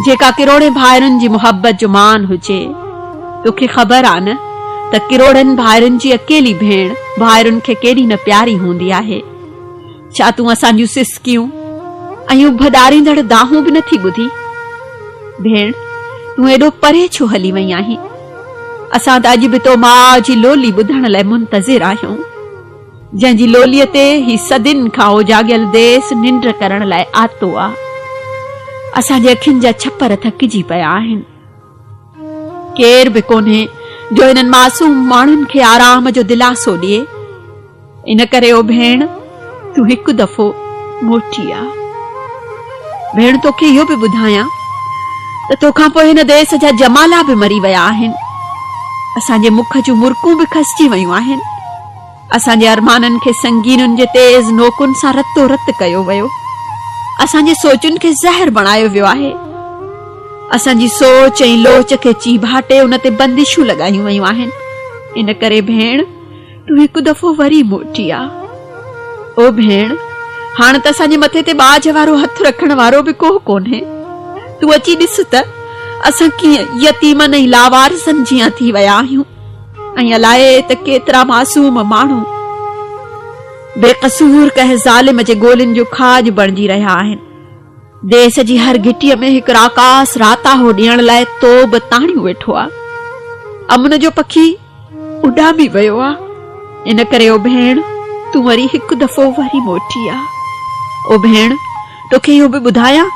جيڪا ڪروڙين ڀائرن جي محبت جو مان هجي. توکي خبر آ نه ته ڪروڙين ڀائرن جي اڪيلي ڀيڻ ڀائرن کي ڪيڏي نه پياري هوندي آهي. ڇا تون اسان جون سسڪيون ۽ اڀ ڏاريندڙ دانهون به نٿي ٻڌي؟ ڀيڻ تون ايڏو پري ڇو هلي وئين آهين؟ اسان ته اڄ به تو ماء جي لولي ٻڌڻ لاء منتظر آهيون. جنهن جي لوليء تي هي صدين کان اوجاڳيل ديس ننڊ ڪرڻ لاء آتو آ. اسان جي اکين جا ڇپر ٿڪجي پيا آهن. ڪير به ڪونهي جو هنن معصوم ماڻهن کي آرام جو دلاسو ڏئي. ان ڪري او ڀيڻ تون هڪ دفعو موٽي آ. ڀيڻ توکي اهو به ٻڌايان ته توکان پوء هن ديس جا جمالا به مري ويا آهن. اسان جي مک جون مرڪون به کسجي ويون آهن. اسان جي ارمانن کي سنگينن جي تيز نوڪن سان رتو رت ڪيو ويو. اسان جي سوچن کي زهر بڻايو ويو آهي. اسان جي سوچ ۽ لوچ کي چيڀاٽي ان تي بندشون لڳايون ويون آهن. ان ڪري ڀيڻ تون هڪ دفعو وري موٽي آ. او ڀيڻ هاڻ ته اسان جي مٿي تي ٻاجهه وارو هٿ رکڻ وارو به ڪو ڪونهي. تون اچي ڏس ته اسان ڪيئن يتيمن ۽ لاوارثن جيان ٿي ويا آهيون. ائين الائي ته ڪيترا معصوم ماڻهو بي قصور ڪنهن ظالم جي گولين جو کاڄ بڻجي رهيا آهن. ديس جي هر گهٽيء ۾ هڪ راڪاس راتاهو ڏيڻ لاء توب تاڻيون ويٺو آ. امن جو پکي اڏامي ويو آ. ان ڪري او ڀيڻ تون وري هڪ دفعو وري موٽي آ. او ڀيڻ توکي اهو به ٻڌايان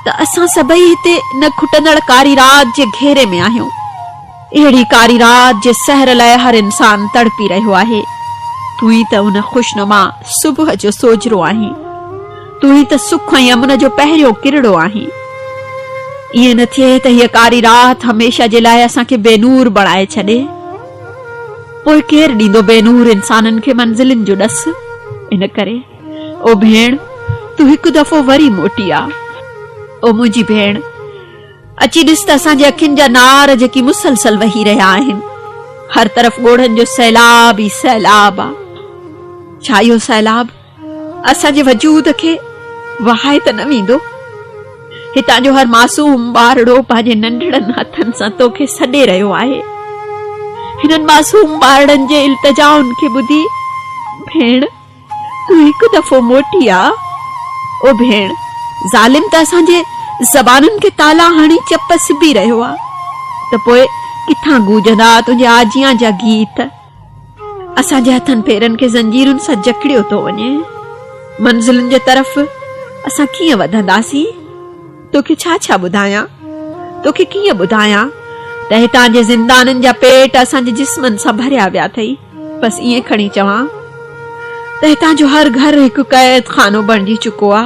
ته اسان سڀئي هتي ان کٽندڙ ڪاري رات جي گهيري ۾ آهيون. اهڙي ڪاري رات جي سحر لاء هر انسان تڙپي رهيو آهي. تون ئي ته ان خوشنما صبح جو سوجهرو آهين. تون ئي ته سک ۽ امن جو پهريون ڪرڙو آهين. ائين نه ٿئي ته هيء ڪاري رات هميشه جي لاء اسان کي بي نور بڻائي ڇڏي. پوء ڪير ڏيندو بي نور انسانن کي منزلن جو ڏس. ان ڪري او ڀيڻ تون هڪ دفعو وري موٽي آ. او منهنجي ڀيڻ! اچي ڏس ته اسان جي اکين جا نار جيڪي مسلسل وهي رهيا آهن. هر طرف ڳوڙهن جو سيلاب ئي سيلاب آ. ڇا اهو سيلاب اسان جي وجود کي وهائي ته نه ويندو؟ هتان جو هر معصوم ٻارڙو پنهنجي ننڍڙن هٿن سان تو کي سڏي رهيو آهي. هنن معصوم ٻارڙن جي التجائن کي ٻڌي ڀيڻ! تون هڪ دفعو موٽي آ. او ڀيڻ، ظالم ته اسان جي زبانن کي تالا هڻي چپ سبي رهيو آ ته پوء ڪٿان گوجندا تنهنجي آجيان جا گيت. اسان جي هٿن پيرن کي زنجيرن سان جڪڙيو ٿو وڃي. منزلن جي طرف اسان ڪيئن وڌنداسين؟ توکي ڇا ڇا ٻڌايان، توکي ڪيئن ٻڌايان ته هتان جي زندانين جا پيٽ اسان جي جسمن سان ڀريا ويا اٿئي، بس ائين کڻي چوان ته هتان جو هر گهر هڪ قيد خانو بڻجي چڪو آ،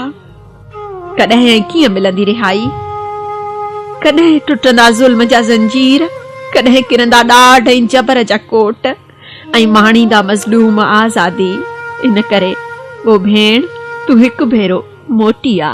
ڪڏهن ۽ ڪيئن ملندي رهائي، ڪڏهن ٽٽندا ظلم جا زنجير، ڪڏهن ڪرندا ڏاڍ ۽ جبر جا ڪوٽ. ۽ ماڻيندا مظلوم آزادي ان ڪري او ڀيڻ تون هڪ ڀيرو موٽي آ.